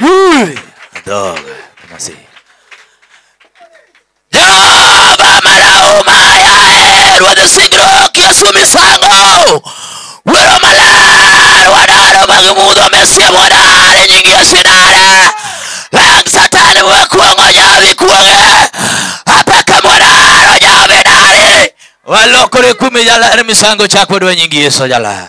Huri! Adoga, kama si. Jehova marauma yae rwadhi singruok Yesu misango Wero maler wadaro mag mudho mesia mwadar e nying Yesu idare Lang satan wakuong'o nyawi kuong'e Apaka mwadaro nyawi dari Walokore kume jalar misango chakwa dwa nying Yesu jalar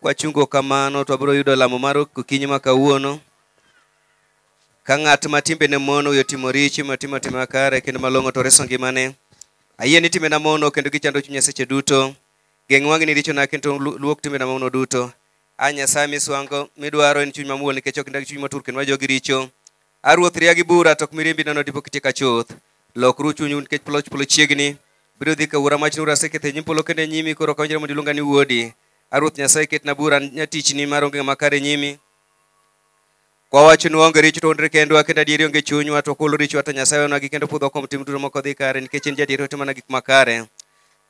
Kwachungo kamano to wabiro yudo lamo mar okinyi ma kawuono. Ka ng'at ma timbene mono oyo timo richo, ma timo tim makare kendo malong'o to reso ngimane. Ayie ni timbena mono kendo gichando chunya seche duto. Geng' wang'i ni richona kendo lu- luok timbena mamono duto. A Nyasaye miswango midwaro en chuny mamuol nikech ok indag chuny motur kendo ma jogi richo. A Ruoth, ria gi bura, to ok mirimbi nono dipo kitika chuth. Lokru chunyu nikech polo polo chiegni. Biro dhi ka wuora mach nura sekethe nyim polo kendo e nyimi koro kawinjore mondo iluonga ni wuodi. A Ruoth Nyasaye ketna bura nyatichni mar onge ng'ama kare e nyimi. Kwa wachonu onge richo to onre kendwa kendo adieri onge chunywa to kulo richo to Nyasaye wewnwa gi kendo pudho kuom tim duto moko dhi kare nikech en jadieri otimona gik makare.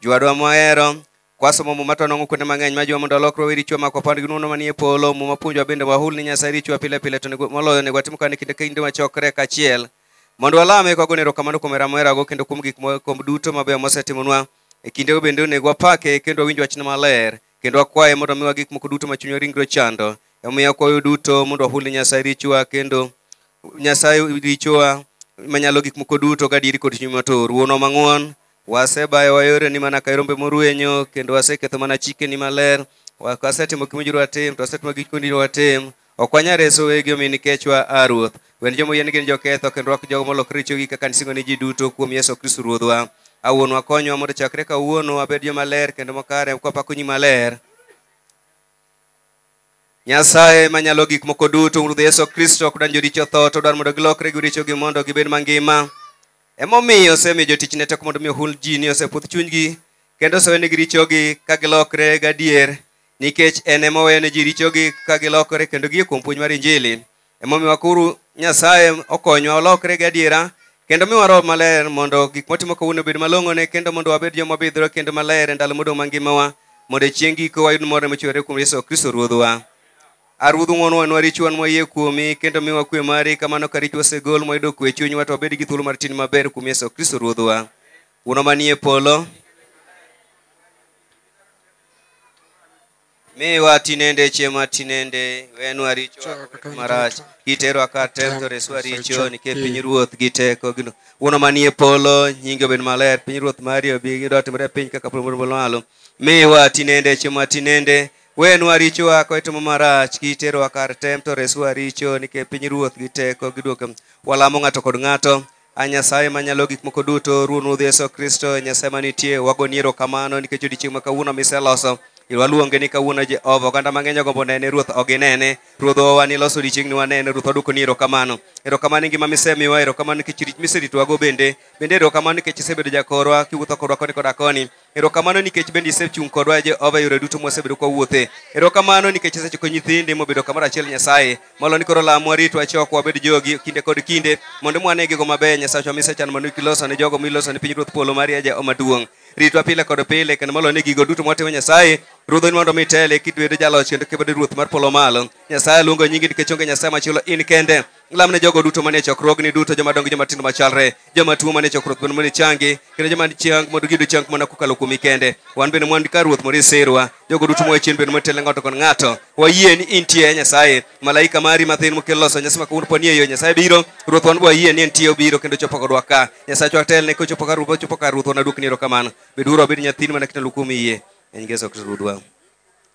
Jwadwa mohero, Kwasomo Muma to wanwang'o kuonde mang'eny ma jiwa mondo walok rowe richo mako pand gi nwono manie polo. Muma puonjowa bende wahul ni Nyasaye richowa pile pile to nego- moloyo onego watim kane kinde ka kinde wachokre kaachiel mondo walame ka wagone erokamano kuom hera moherago kendo kuom gik moko duto mabeyo mosetimonwa. E kindego bende onego wapake kendo wawinj wachne maler kendo wakwaye mondo omiwa gik moko duto ma chunywa ringre ochando. Omiyo wakwayo duto mondo wahul ni Nyasaye richowa kendo Nyasaye richowa manyalo gik moko duto gadieri kod chuny matur. Wuonwa mang'won, Wasebayo wa yoreni mana ka rombe morwenyo, kendo waseketho mana chikeni maler. Wa- Wasetimo gima owinjore watim, to wasetimo gik mowinjore watim. Ok wanyal reso wegi omi nikechwa, a Ruoth. Wen joma oyie ni gin joketho, kendo rwak jogo molokre richogi kaka nisingo ni ji duto kuom Yesu Kristo Ruodhwa. A Wuonwa, konywa mondo chakre kawuono wabed joma ler kendo makare, kwapako nyi maler. Nyasaye manyalo gik moko duto Ruoth Yesu Kristo ok dan joricho tho to odwar mondo gilokre gi richogi mondo gibed mangima. Emomiyo osemiyo jotichne teko mondo mi ohul ji ni oseputh chunygi kendo osewenegi richogi ka gilokre gadier nikech en ema oweyo ne ji richogi ka gilokore kendo gie kuom puonj mar Injili. Emomiyo wakuru Nyasaye okonywa olokre gi adiera kendo miwa roho maler mondo gik motimo kawuono obed malong'one kendo mondo wabed joma obidhore kendo maler e ndalo modong' mangimawa mondo e chieng' giko wayud morne mochwere kuom Yesu Kristo Ruodhwa. A Ruodh ng'wono wanwa richowa nwa yie kuomi kendo miwa kwe mari kamano ka richo osegol mwayudo kwe e chunywa to wabed gi thuolo mar tin maber kuom Yesu Kristo Ruodhwa. Wuonwa manie polo, Miwa tinende chiema tinende, wenwa richo marach, kiterwa kar tem to reswa richo, nikech piny ruoth gi teko gino. Wuono manie polo, nyingi obed maler, piny ruoth mari obi gi dot mare piny kaka polo moro malo. Miwa tinende chiema tinende, wenwa richowa ka itimo marach, kiterwa kar tem to reswa richo, nikech piny ruoth gi teko giduoke. Walamo ng'ato kod ng'ato, A Nyasaye manyalo gik moko duto, Ruon Ruodh Yesu Kristo, Nyasaye manitie, wagoni erokamano nikech odiechieng' ma kawuono miseloso. Waluonge ni kawuono Jehova, oganda mang'eny ogombo nene, Ruoth ok ginene. Ruodh owa niloso odiechieng'ni wanene, Ruoth waduoko ni erokamano. Erokamano ni ngima misemiwa, erokamano nikech rit miseritowago bende. Bende erokamano nikech isebedo jakorwa, kiwuotho kodwa koni koda koni. Erokamano nikech bende isechung' kodwa Jehova yore duto mwasebedo kwa wuothe. Erokamano nikech isechiko nyithindi mobedo kamoro achiel Nyasaye. Molo ni koro lamwa ritwa chok wabed jogi kinde kod kinde mondo mwane gigo mabeyo Nyasachwa misechan mondo kiloso ne jogo miloso ne pinyruoth polo mari ya Jehova maduong'. Ritwa pile kod pile kendo molo ni gigo duto mwatimo Nyasaye ruodho ni mondo mitele kidwedo jaloch kendo kibedo ruoth mar polo malo. Nyasaye luongo nyingi nikech onge Nyasaye machielo in kende. Lam ne jogo duto manie chokruogni duto joma dongo gi joma tindo machalre, joma tuo manie chokruok bende mondo ichangi, kendo joma chang mondo giyud chang mana kokalo kuomi kende. Wan bende mwan ka Ruoth mondo isirwa, jogo duto moa chien bende motelo ng'ato kod ng'ato. Wayie ni intie e Nyasaye, malaika mari mathin mokel loso nyasi ma kawuono poni e yo Nyasaye biro, Ruoth wan wayie ni entie obiro kendo chopo kodwa ka. Nyasaye chwa telne kochopo ka Ruoth ochopo ka Ruoth wanaduokni erokamano. Beduru abed nyathini mana kitalo kuom yie. En Yesu Kristo Ruodhwa.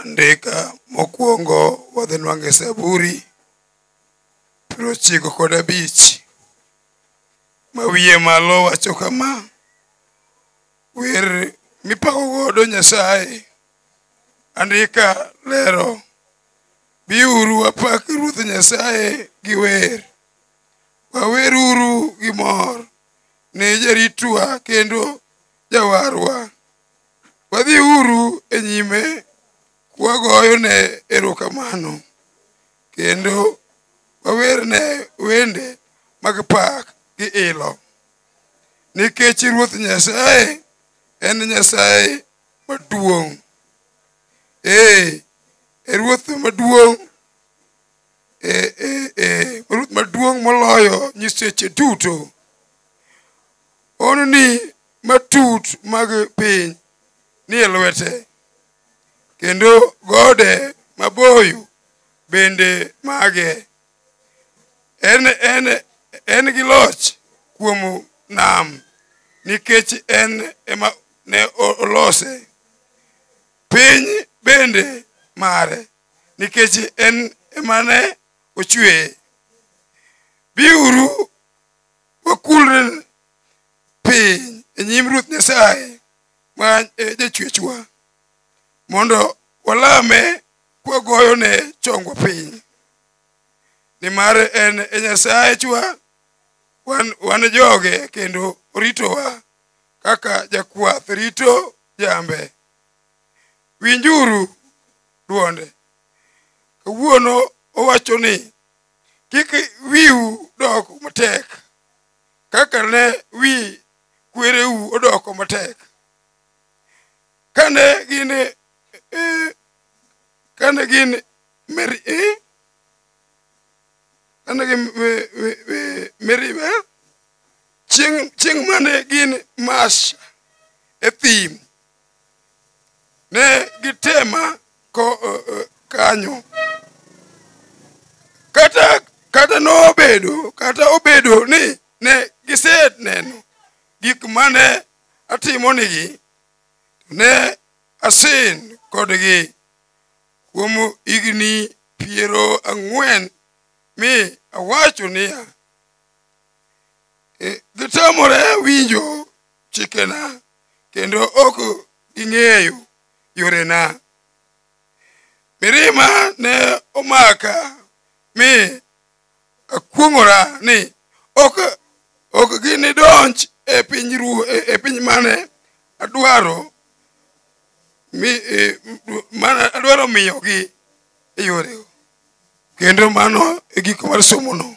andika mokwongo wadhi nwange saburi piero ochiko kod abich ma wiye malo wacho kama wer mipako godo nyasaye andika lero biuru wapak ruoth nyasaye gi wer waweruru gi mor ne jaritwa kendo jawarwa Wadhi uru e nyime kwagoyone erokamano kendo wawerne wende mag pak gi ilo nikech Ruoth Nyasaye en Nyasaye maduong'. Ee, e Ruoth maduong' e, e, e, Ruoth maduong' moloyo nyiseche duto. Ononi matut mag piny nie lwete kendo gode maboyo bende mage en, en, en gi loch kuom nam nikech en ema ne o- olose piny bende mare nikech en ema ne ochweye biuru wakulre piny e nyim ruoth nyasaye ma e jachwechwa mondo walame kwagoyone chongwa piny nimar en e nyasayechwa wan, wan joge kendo oritowa kaka jakwath rito jambe winjuru dwonde kawuono owacho ni kik wiu dok matek kaka ne wi kwereu odoko matek kane gin eh, kane gin meri eh, kane gin me- me- me- meriba chieng' chieng' mane gin masha e thim ne gitema ko, uh, uh, kanyo kata kata nobedo kata obedo ni ne giseneno gik mane atimonigi ne asin kodgi kuom higni piero ang'wen mi awacho niya "E, gitamore winjo chikena kendo ok ging'eyo yorena. Mirima ne omaka mi akuong'ora ni ok ok ginidonj e piny ru e piny mane adwaro mi e, mane adwaro miyogi e yorego kendo mano e giko mar somono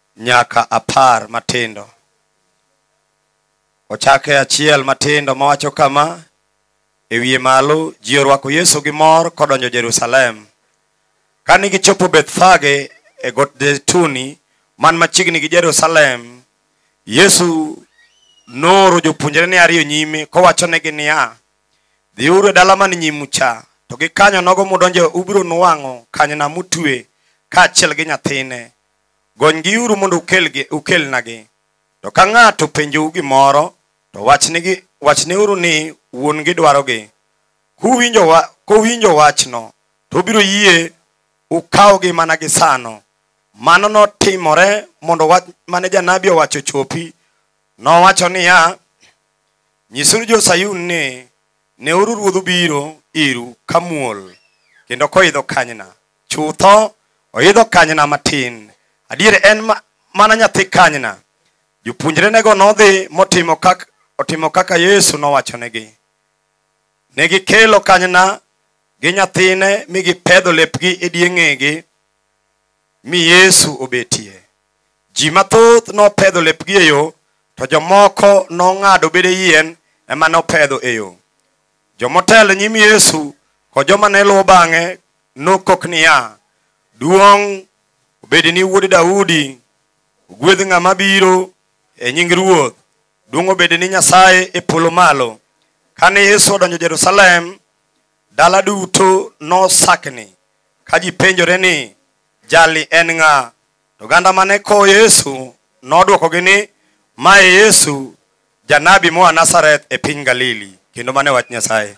nyaka apar matindo. Ochake achiel matindo mawacho kama, e wiye malo ji orwako Yesu gi mor kodonjo Jerusalem. Kane gichopo Bethfage e got Zeituni man machiegni gi Jerusalem, Yesu nooro jopuonjrene ariyo nyime kowachonegi niya, dhiuru e dala man nyimu cha, to gikanyo nogo mudonjo ubiro nuwang'o kanyna mutwe kaachiel gi nyathine. Gonygiuru mondo ukelgi ukelnagi. To ka ng'ato penjou gimoro, to wachnigi wachneuru ni wuon-gi dwarogi. Kuwinjo wa, kowinjo wachno, to obiro yie ukawgi mana gi sano. Mano notimore mondo wach mane janabi owacho chopi. Nowacho niya, Nyisuru jo-Sayun ni, neuru ruodhu biro iru ka muol, kendo koidho kanyna. chutho oidho kanyna matin adier en ma- mana nyathi kanyna jopuonjrenego nodhi motimo kaka, otimo kaka yesu nowachonegi ne gikelo kanyna gi nyathine mi gipedho lepgi e die ng'egi mi yesu obetie ji mathoth nopedho lepgi e yo to jomoko nong'ado bede yien ema nopedho e yo jomotelo nyim yesu kod joma ne luwo bang'e nokok niya, Duong' obed ni wuod Daudi, ogwedh ng'ama biro e nying Ruoth, duong' obed ni Nyasaye e polo malo. Kane Yesu odonjo Jerusalem, dala duto nosakni ka ji penjore ni, Jali en ng'a? To oganda mane kowo Yesu nodwokogi ni, Ma e Yesu, janabi moa Nazareth e piny Galili, kendo mano e wach Nyasaye.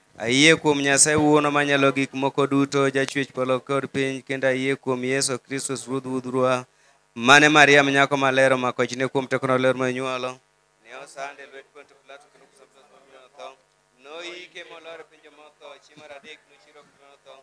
Ayie kuom Nyasaye Wuono Manyalo Gik Moko Duto, Jachwech Polo kod Piny, kendo ayie kuom Yesu Kristus Ruodh Wudhurwa, mane Mariam nyako maler omako ichne kuom teko mar ler monyuolo. Ne osand e lwet Ponto Pilato kendo kuom Sabato nomi otho. Noyike molor e piny joma otho, chieng' mar adek nochier oa kuom joma otho.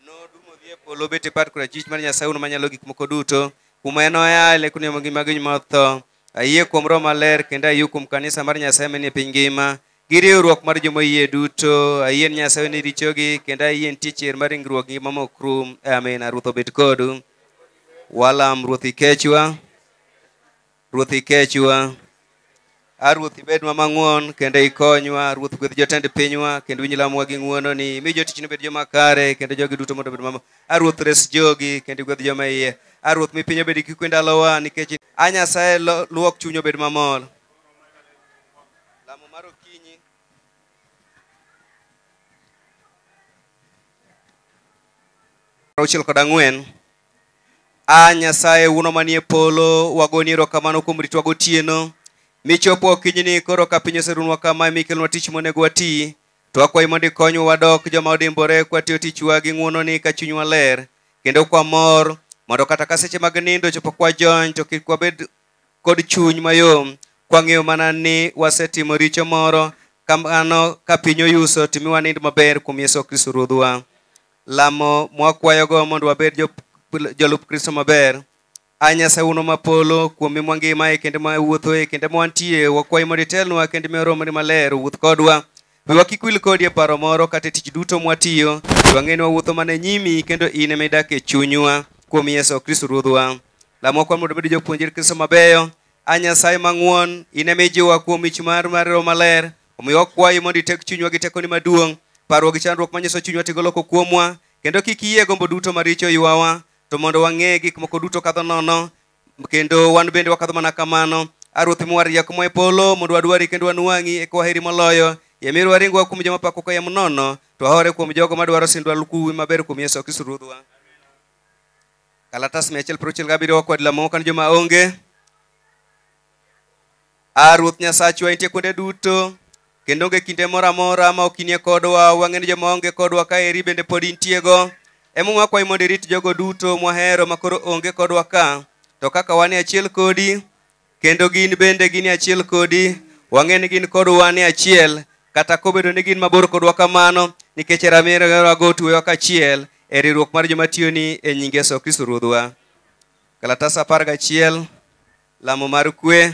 Nodum odhi e polo obet e pat korachwich mar Nyasaye Wuono Manyalo Gik Moko Duto, kuma enoa e lek kuno ngima gi joma otho. Ayie kuom Roho Maler, kendo ayie kuom kanisa mar Nyasaye manie piny ngima, gi riwruok mar joma yie duto ayien nyasaye ni richogi kendo ayien tie chier mar ringruok gi mama ok rum amina ruoth obed kodu walam ruoth ikechwa ruoth ikechwa a ruoth ibednwa mang'won kendo ikonywa ruoth gwedh jotend pinywa kendo winj lamwa gi ng'wononi mi jotichni obed joma kare kendo jogi duto mondo obed mama a ruoth res jogi kendo igwedh joma iye a ruoth mi piny obed kikwe ndalowa nikech a nyasaye lo- luok chuny obed mamor Lamo mar okinyi. auchiel kod ang'wen a nyasaye wuono manie polo wagoni erokamano kuom ritwa gotieno michopo okinyini koro ka piny oserunwa kama mikelnwa tich monego wati to akwayi mondo ikonywa wadok joma odimbore kwatiyo tichwa gi ng'wononi ka chunywa ler kendo kwamor mondo kata ka seche mag nindo chopo kwajony to kik wabed kod chuny mayom kwang'eyo mana ni wasetimo richo moro kamano ka piny oyuso to mi wanind maber kuom Yesu Kristo Ruodhwa. Lamo mwakwayogo mondo wabed jo- jolup Kristo maber. A Nyasaye uno ma polo kuom mi mwangimae kendo ma wuothoe kendo ma wantie wakwayi mondo itelnwa kendo miwa romoni maler owuoth kodwa. Wiwa kik wil kodi e paro moro kata e tich duto mwatiyo. Wang'e ni wawuotho mana e nyimi kendo in ema idak e chunywa kuom Yesu Kristo Ruodhwa. Lamo kwan mondo obed jopuonjre Kristo mabeyo. A Nyasaye mang'won, in ema ijiwowa kuom mich mar mar Roho Maler. Omiyo wakwayi mondo itek chunywa gi tekoni maduong', parwa gi chandruok manyiso chunywa tigolo ko kuomwa, kendo kik iyie gombo duto maricho ywawa, to mondo wang'e gik moko duto kadho nono, kendo wan bende wakadho mana kamano. A Ruoth miwa rieko moa e polo, mondo wadwari kendo wanwang'i, eka waheri moloyo. Yamir waring wa kuom joma pako kayiem nono, to wahore kuom jogo madwaro sindwa lukuwi maber kuom Yesu Kristo Ruodhwa. kalatas mia achiel piero auchiel gabiriyo kod lamo kan joma onge a ruoth nyasachwa intie kuonde duto kendo onge kinde moro amora ma ok inie kodwa wang'e ni joma onge kodwa ka eri bende pod intiego emomiyo wakwayi mondo irit jogo duto mwahero makoro onge kodwa ka to kaka wan e achiel kodi kendo gin bende gin e achiel kodi wang'e ni gin kod wan e achiel kata kobedo ni gin mabor kodwa kamano nikech ramirwago otuwewa kachiel e riwruok mar joma tiyoni e nying yesu kristo ruodhwa kalatas apar gachiel lamo mar kwe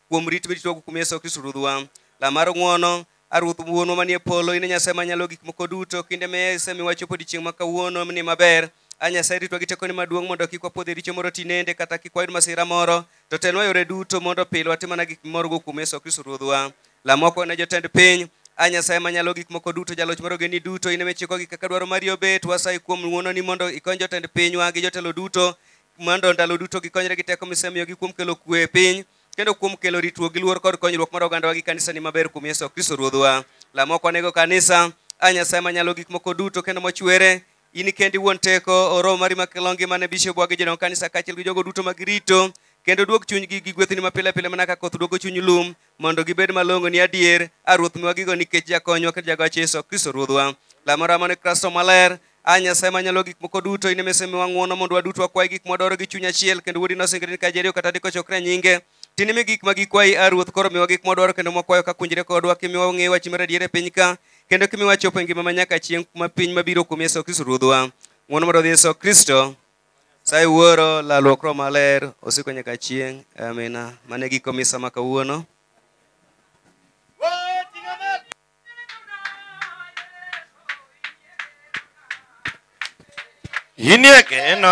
kuom rit miritwago kuom Yesu Kristo Ruodhwa. Lamar ng'wono, A Ruoth Wuonwa manie polo, in e Nyasaye manyalo gik moko duto, kinde me isemiwa chopo odiechieng' ma kawuono ni maber. A Nyasaye ritwa gi tekoni maduong' mondo kik wapodh e richo moro tinende kata kik wayud masira moro, to telnwa yore duto mondo pile watim mana gik mimorgo kuom Yesu Kristo Ruodhwa. Lamwa koni ne jotend piny, A Nyasaye manyalo gik moko duto, jaloch mar ogendni duto, in ema ichikogi kaka dwaro mari obet, wasayi kuom ng'wononi mondo ikony jotend pinywa gi jotelo duto mondo ndalo duto gikonyre gi teko misemiyogi kuom kelo kwe e piny kendo kuom kelo ritruok gi luor kod konyruok mar ogandawa gi kanisani maber kuom Yesu Kristo Ruodhwa. Lamo ok wanego kanisa, a Nyasaye manyalo gik moko duto kendo mochwere, in kendi wuon teko, o Roho mari makelo ngima ne bishopwa gi jodong kanisa kaachiel gi jogo duto ma girito, kendo duog chunygi gi gwethni mapile pile mana ka koth duogo chuny lum, mondo gibed malongo ni adier a ruoth miwa gigo nikech jakonywa kendo jagoch yesu kristo ruodhwa lamora mane kristo maler a nyasaye manyalo gik moko duto ine mise miwa ng'wono mondo waduto wakwayi gik mwadwaro gi chuny achiel kendo wuodi nosingre ni ka jeriyo kata diko chokre e nyinge tinimi gik ma gikwayi a ruoth koro miwa gik mwadwaro kendo mwakwayo ka kunjre kodwa kimiwa wang'eyo wachi mar adier e piny ka kendo kimiwa chopo e ngima ma nyaka chieng' kuma piny mabiro kuom yesu kristo ruodhwa ng'wono mondo dhi yesu kristo Sai wuoro lalruok roho maler osiko nyaka chieng'. Amina. Mane giko misa ma kawuono. Inie geno.